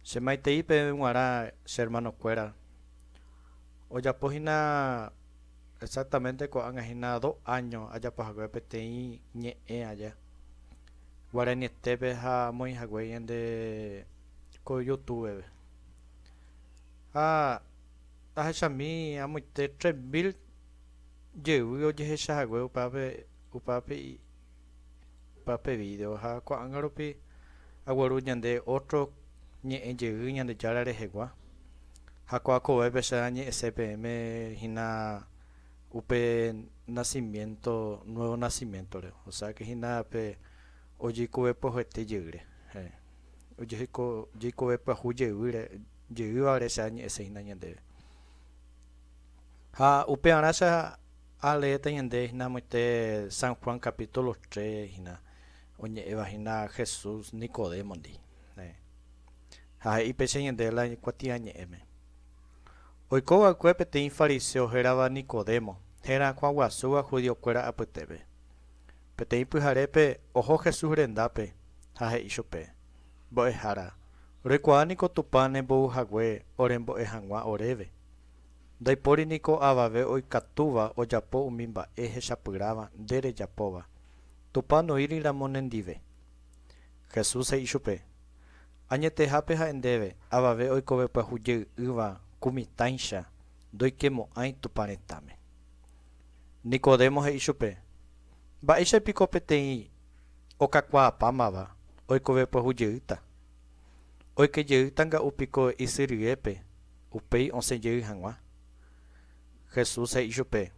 Che maitei peẽ g̃uarã che hermano kuéra ojapo hína exactamente ko'ág̃a hína dos año ajapo hague peteĩ ñe'ẽ aja guaranietépe ha amoĩ hague yende ko youtúbeve ha tahechami amoite tres mil jey ojehecha hague upévape upévape Opa pe vídeo ha ko'ág̃a rupi agueru ñande ótro ñe'ẽ jey Ñandejára rehegua. Ha ko'ã kovépe che añe'ẽse peẽme hína upe nacimiento, nuevo nacimiento-re, osẽake hína pe ojeikove pyahuete jeýre, ojeheiko jeikove pyahu jeýre, jeývare che añe'ẽse hína ñandéve. Ha upearã che Ha leéta ñande hína amoite San Juan capítulo tres hína, oñe'ẽva hína Jesús Nicodémondi. Ha he'i péicha ñande la kuatiañe'ẽme. Oiko va'ekue peteĩ fariseo hérava Nicodemo, herakuã guasúva judío kuéra apytépe. Peteĩ pyharépe oho Jesús rendápe ha he'i chupe, Mbo'ehára, roikuaa niko Tupã nembouhague orembo'e hag̃ua oréve. Ndaipóri niko avave oikatúva ojapo umi mba'e hechapyrãva nde rejapóva, Tupã onuíri ramo nendive. Jesús he'i chupe, Añetehápe ha'e ndéve, avave oikove pyahujey'ỹva ku mitãicha ndoikemo'ãi Tupã retãme. Nicodemo he'i chupe, Mba'éicha piko peteĩ okakuaapámava oikove pyahujeyýta? Oike jey tanga'u piko isy ryépe, upéi osẽ jey hag̃ua. Jesús he'i chupe,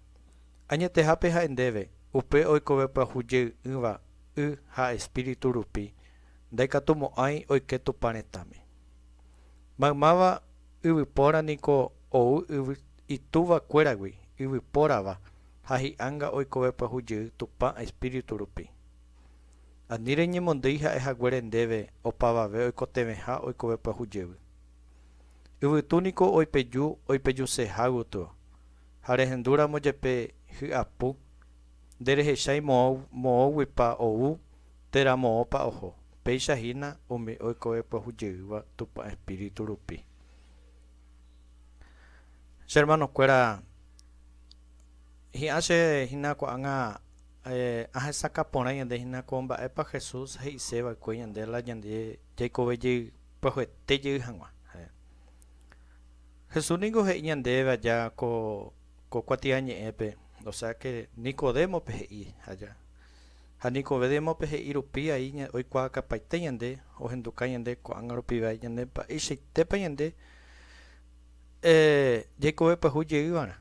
Añetehápe ha'e ndéve, upe oikove pyahu jey ỹva y ha espíritu rupi, ndaikatumo'ãi oike Tupã retãme. Maymáva yvypóra niko ou yvy itúva kuéragui yvypórava ha hi'anga oikove pyahu jey Tupã espíritu rupi. Ani reñemondýi ha'e haguére ndéve opavave oikotevẽha oikove pyahu jevy. Yvytu niko oipeju oipejuseha gotyo, ha rehendu ramo jepe hy'apu, nde rehechái moõ moõguipa ou térã moõpa oho, péicha hína umi oikove pyahu jeýva Tupã Espíritu rupi. Che hermanokuéra, hi'ã che hína ko'ág̃a. Ahesakã porã ñande hína ko mba'épa Jesús he'ise va'ekue ñande la ñande jaikove jey pyahuete jey hag̃ua. Jesús ningo he'i ñandéve aja ko kuatiañe'ẽpe, osea ke Nicodémope he'i aja. Ha Nicodémope he'i rupi ai oikuaakapaite ñande, ohenduka ñande ko'ág̃a rupi vai ñande mba'eichaitépa ñande jaikove pyahu jey va'erã.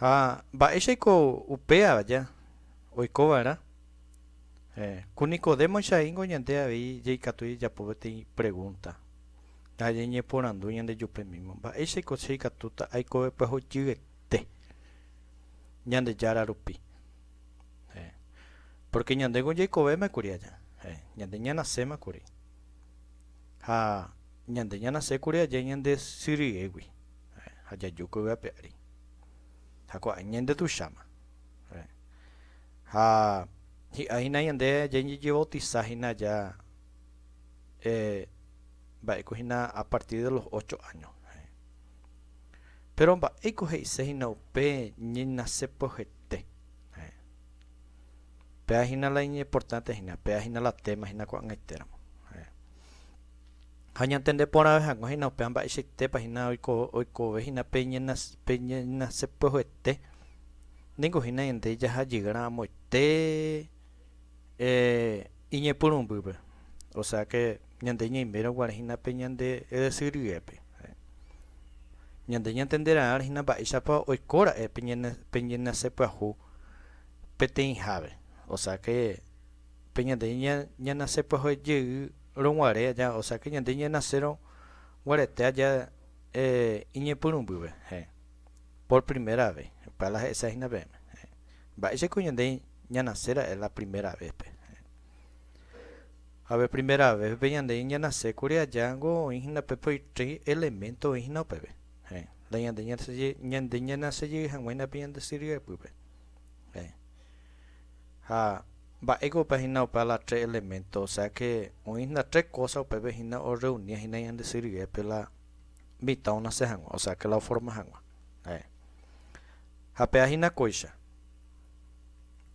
Ha mba'éichaiko upéva ja oiko va'erã? Héẽ, ku Nicodémoicha ingo ñande avei jaikatu jajapo peteĩ pregúnta. Ha jañeporandu ñandejupe mímo, Mba'éichaiko che ikatúta aikove pyahujyete Ñandejára rupi? Héẽ. Pórke ñandéko jaikovéma kuri aja. Héẽ, ñande ñanaséma kuri. Ha ñande ñanase kuri aja ñande sy ryégui. Ha jaju ko yvápe ári. Ha ko'ág̃a ñande tuicháma. Ha hi'ã hína ñande jañejevautisa hína aja mba'éiko hína a partir de los ocho áño. Péro mba'éiko he'ise hína upe ñenase pyahete. Péa hína la iñimportánte hína, péa hína la téma hína ko'ag̃aitéramo. Ha ñantende porãve hag̃ua hína upéva mba'eichaitépa hína oikove hína pe ñenasẽpyeguete, ningo hína ñande jahajey rãmoite iñepyrũmbýpe, osea ke ñande ñaimérõ guare hína pe ñande ysyry ryépe. Ñande ñantende ra'ãre hína mba'éichapa oiko ra'e pe ñenasẽpyahu peteĩhápe, osea ke. Pe ñande ñanase pyahue jey roguare aja, o sea que ñande ñanasérõ guarete aja iñepyrũmbýve, heẽ, por primera vez, pe ala he'ise hína peẽme, heẽ, mba'éicha ko ñande ñanase ra'e la primera vez pe, heẽ. Ha pe primera vez pe ñande ñanase kuri aja niko oĩ hína pe por tres elemento oĩ hína upeve, heẽ, la ñande ñanase jey hag̃ua hína pe ñande sy ryepýpe, heẽ. Ha mba'éiko upe hína upe ala tre elemento, osea ke oĩ hína tre kósa upépe hína orreunia hína ñande sy ryépe la mitã onase hag̃ua, osea ke la oforma hag̃ua. Heẽ. Ha pe'a hína kóicha.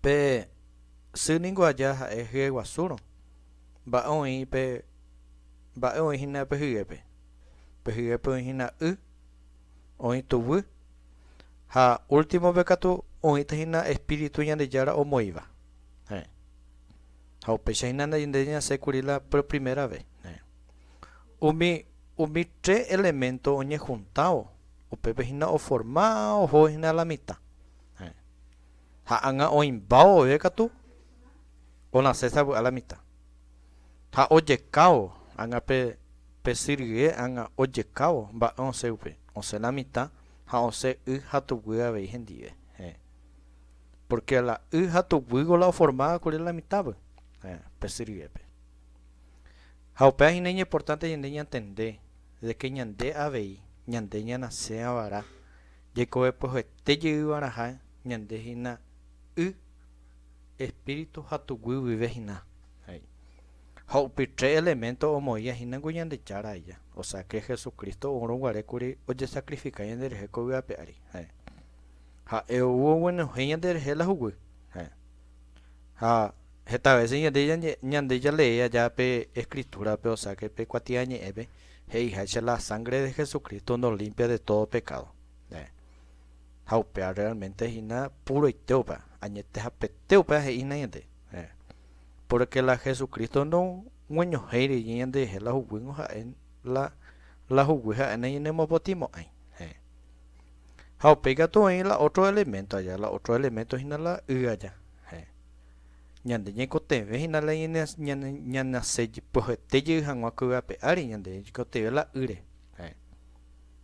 Pe sy ningo aja ha'e hyeguasúrõ. Mba'e oĩ pe mba'e oĩ hína pe hyépe? Pe hyépe oĩ hína y. oĩ tuguy, ha últimope katu oĩta hína espíritu Ñandejára omoĩva. Heẽ. Ha upéicha hína nde ñasẽ kuri la por primera vez. Heẽ. Umi, umi tres elemento oñehuntãvo, upépe hína oforma oho hína la mitã. Heẽ. Ha ág̃a oĩmbávo vove katu onasẽ sa vy'a la mitã. Ha ojekávo ág̃a pe, pe syrgie ág̃a ojekávo mba'e osẽ upe, osẽ la mitã, ha osẽ y ha tuguy avei hendive. Heẽ. Pórke la y ha tuguýgui la oformáva kuri la mitãgui, heẽ, pe syrgiépe. Ha upéva hína iñimportánte ñande ñantende de ke ñande avei, ñande ñanasẽva vara, jaikovepojoete jey varaha ñande hína y. Espíritu ha tuguy guive hina, he'i. Ha upe tre elemento omoĩva hína niko Ñandejára aja, osea que Jesucristo oúrõ guare kuri ojesacrifica ñanderehe ko yva ape ári, heẽ. Ha'e ou oguenohẽ ñanderehe la huguy, heẽ. Ha heta vece ñande ñande jalee aja pe Escritura-pe, osea que pe kuatia ñe'ẽpe, he'iháicha la sangre de Jesucristo nos limpia de todo pecado, heẽ. Ha upéva realmente hína púroitéupa, añetehapetéupa he'ína ñande, héẽ, pórke la Jesucristo nogueñohéi rire ñanderehe la huguýngo ha'e la la huguy ha'e nañanemopotĩmo'ãi, héẽ. Ha upéi katu oĩ la ótro eleménto aja, la ótro eleménto hína la y aja, héẽ. Ñande ñaikotevẽ hína la ñanase pyahete jey hag̃ua ko yvape ári, ñande ñaikotevẽ la ýre, héẽ.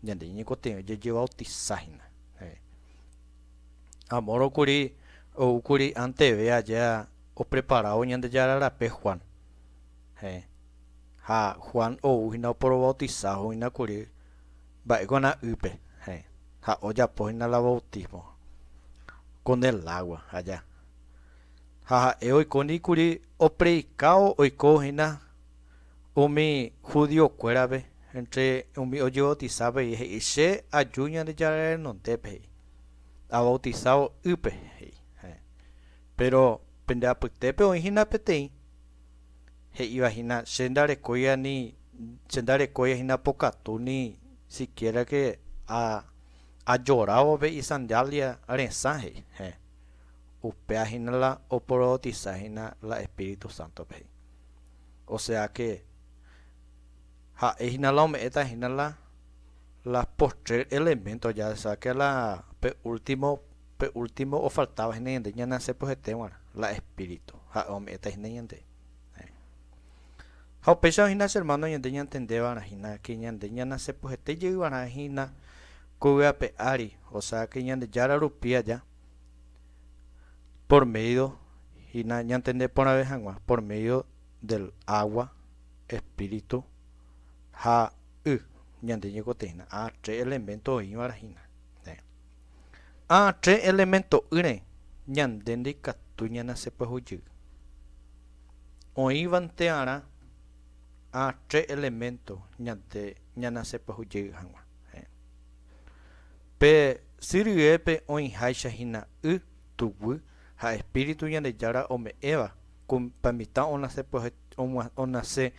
Ñande ñeñekotevẽ ojejevautisa hína. Amoro kuri oúkuri anteve aja opreparávo Ñandejára rape Juan. Ha Juan ou hína oporovautisávo hína kuri mba'e g̃uarã ýpe ha ojapo hína la bautismo con el agua aja. Ha ha'e oikóndi kuri opredikávo oiko hína. Umi judío kuérape, entre umi ojebautiza avei he'i, Che aju Ñandejára renondépe, he'i, avautisávo ýpe, he'i. Héẽ. Péro pende apytépe oĩ hína peteĩ, he'íva hína, Che ndarekói ani, che ndarekói hína pokatu ni sikiérake a ajorávo pe isandiália resã, he'i. Héẽ. Upéva hína la oporobautiza hína la Espíritu Sántope, he'i. o sea que ha'e hína la ome'ẽta hína la la postrer elemento ya sea que la pe último pe último ofaltáva hína ñande ñaneasẽ pyhete g̃uarã la espíritu ha'e ome'ẽta hína ñande ha upéicharõ hína che hermano ñande ñantende va'erã hína que ñande ñaneasẽ pyhete jey va'erã hína ko yvy ape ári o sea que Ñandejára rupi aja Por médio hína ñantende porãve hag̃ua, por médio del agua, espíritu ha y, ñande ñeikotevẽ hína a tre elemento oĩvare hína. A tre elemento'ỹre ñande ndaikatu ñanase pyahu jey. Oĩvante'arã a tre elemento ñande ñanase pyahu jey hag̃ua. Pe sy ryépe oĩháicha hína y, tuguy ha espíritu Ñandejára ome'ẽva ku pe mitã onase pyahe onase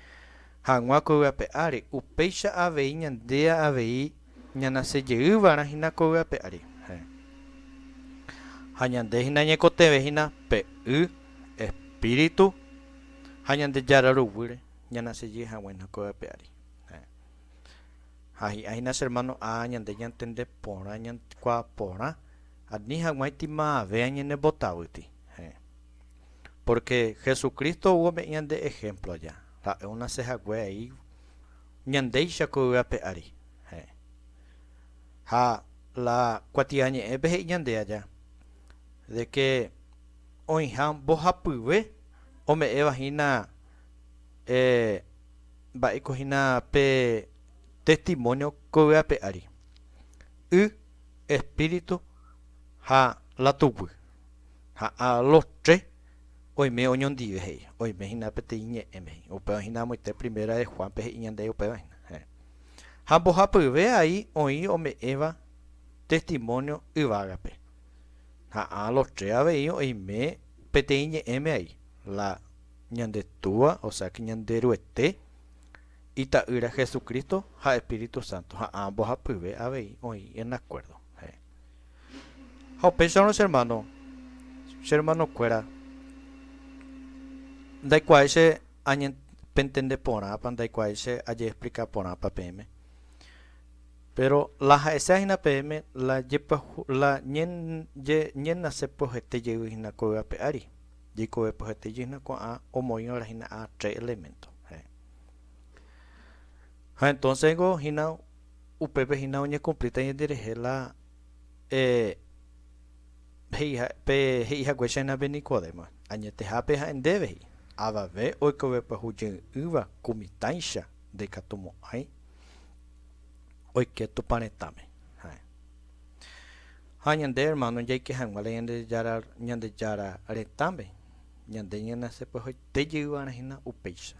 hag̃ua ko yvape ári, upéicha avei ñande avei ñanase jey va'erã hína ko yvape ári. Ha ñande hína ñaikotevẽ hína pe y, espíritu ha Ñandejára ruguýre ñanase jey hag̃ua hína ko yvape ári. Ha hi'ã hína che hermano A. Ñande ñantende porã ñaikuaa porã ani hag̃uáicha imaave añenembotavýti. Heẽ. Pórke Jesucristo oguome'ẽ ñande ehémplo aja, ha'e onase hague ai ñandéicha ko yvy ape ári. Heẽ. Ha la Kuatiañe'ẽpe he'i ñande aja de ke oĩha mbohapyve ome'ẽva hína eh, Mba'éiko hína pe testimónio ko yvy ape ári? Y, espíritu ha la tuguy. Ha a los tres oime oñondive he'i. Oime hína peteĩ ñe'ẽme he'i. Upéva hína amoite Primera de Juan-pe he'i ñandéve upéva hína. Héẽ. Ha mbohapyve ai oĩ ome'ẽva testimónio yvágape. Ha a los tres avei oime peteĩ ñe'ẽme ai. La Ñande Túa, osea que Ñanderuete, Ita'ýra Jesucristo ha Espíritu Santo, ha ã mbohapyve avei oĩ en acuerdo heẽ. Ha upéicharõ che hermano, che hermanokuéra ndaikuaái che añe, pentende porãpa, ndaikuaái che ajeexplika porãpa peẽme, péro la ha'esea hína peẽme la jepyahu, la ñe, ñe, ñenase pyohete jey hína ko yvape ári, Jeikove pyhate jyhna ko'ã omoĩrõ rahína a tre elemento. Héẽ. Ha entonce niko hína upépe hína oñecumplíta ñanderehe la pe he'i hague che nabi Nicodemo, añetehápe ha'e ndéve he'i, Avave oikove pyahu jey'ỹva ku mitãicha ndaikatumo'ãi oike Tupã retãme. Héẽ. Ha ñande ermáno jaike hag̃ua la Ñandejára retãme, ñande ñanasepy'ahoite jeýva'erã hína upéicha.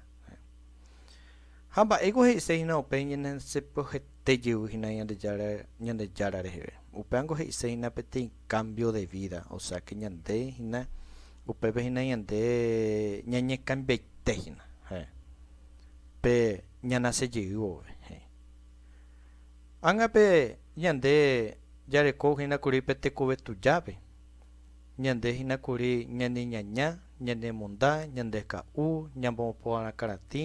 Ha mba'éiko he'ise hína upe ñanasepy'ahoite jey hína Ñandejára reheve? Upévango he'ise hína peteĩ kámbio de vída, osea ke ñande hína upépe hína ñande ñañekambiaite hína pe ñanase jey vove. He'i Ág̃ape ñande jareko hína kuri pe tekove tujápe, ñande hína kuri ñaneñaña, ñanemonda, ñandeka'u, ñambo'oporã karatĩ,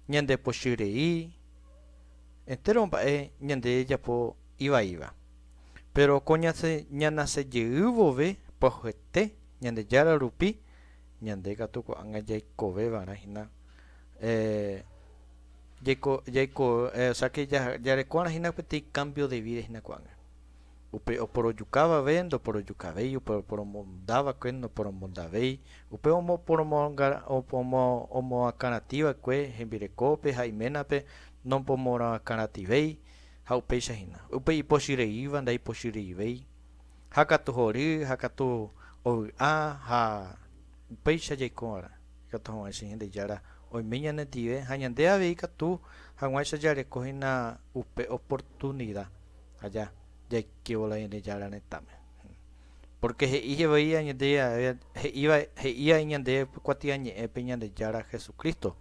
ñandepochy rei, entéro mba'e ñande japo ivaíva. Péro ko ñanase jey vove pyahete Ñandejára rupi, ñande katu ko'ág̃a jaikovevarã hína. Jaiko, jaiko, eh, o sea que ja, jarekorã hína peteĩ cambio de vida hína ko'ág̃a. Upe oporojukávape ndoporojukavéi, upe oporomondava'ekue noporomondavéi, upe omoporomonga, omo, omoakãratĩva'ekue hembirekópe ha iménape nopomoakãrativéi ha upéicha hína. Upe ipochyreíva ndaipochyreivéi, ha katu hory, ha katu ovy'a ha upéicha jaiko va'erã. Ikatu hag̃ua che Ñandejára oime ñanendive ha ñande avei ikatu hag̃uáicha jareko hína upe oportunida aja jaikévo la Ñandejára retãme. Pórke he'i jevoi añete jave he'íva he'i vai ñande pe kuatiañe'ẽpe Ñandejára Jesucristo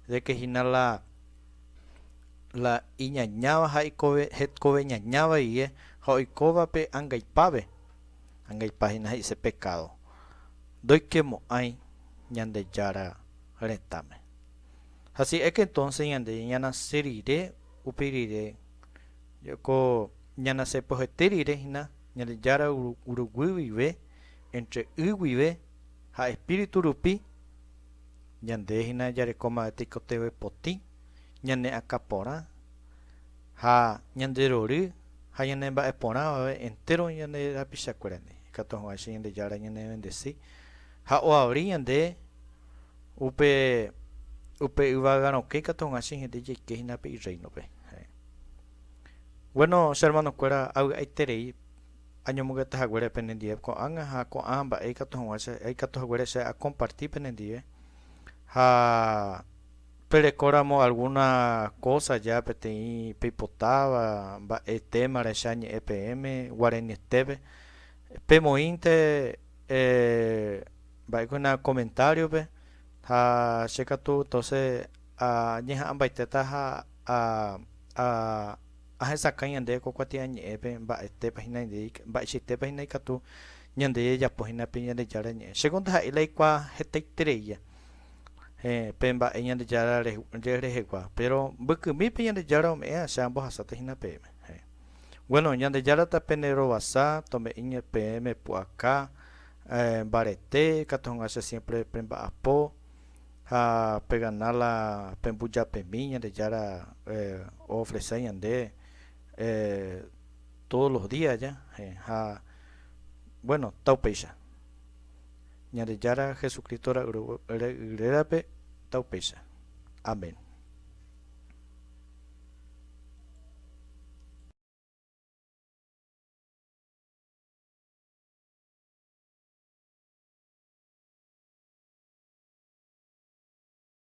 de ke hína la la iñañáva ha ikove hetkoveñaña vaive ha oikóva pe angaipápe, angaipa hína he'ise pekádo. ndoikemo'ãi Ñandejára retãme. Así es que entonces ñande ñanase rire upe rire, ko ñanase pohete rire hína Ñandejára ruguy guive, entre y guive ha espíritu rupi, ñande hína jarekóma tekotevẽ potĩ, ñane akã porã, Ha ñande rory ha ñane mba'e porãvave entéro ñane rapichakuérandi, ikatu hag̃ua che Ñandejára ñanevendesi ha oavri ñande upe upe yvága rokẽ ikatu hag̃ua che hete jaike hína pe Irréinope. Heẽ. Bueno, che hermanokuéra, avy'aiterei añomongeta haguére penendive ko'ág̃a ha ko'ã mba'e ikatu hag̃ua che aikatu haguére che akomparti penendive ha Perekóramo algúna kósa ja peteĩ peipotáva mba'e téma rehecha ñe'ẽ peẽme guarenietépe, pemoĩnte mba'ekuéna komentáriope ha che katu entóse añeha'ãmbaitéta ha ahesakãi ñande ko kuatiañe'ẽpe mba'etépa hína ndéi, mba'eichaitépa hína ikatu ñande jajapo hína pe Ñandejára ñe'ẽ. Chéko ndaha'éi la aikuaa hetaitereia. pe mba'e Ñandejára rehegua, péro mbykymípe Ñandejára ome'ẽ che ambohasáta hína peẽme. Gueno, Ñandejára tapéne rovasa, tome'ỹ peẽme pu'aka, mbarete, katu hag̃ua che siémpre pemba'apo ha pegana la pembujapemi Ñandejára oofresa ñande tódo los días ja. Ha, gueno, ta upéicha. Ñandejára Jesucristo ra'y rérape taupéicha. Amén.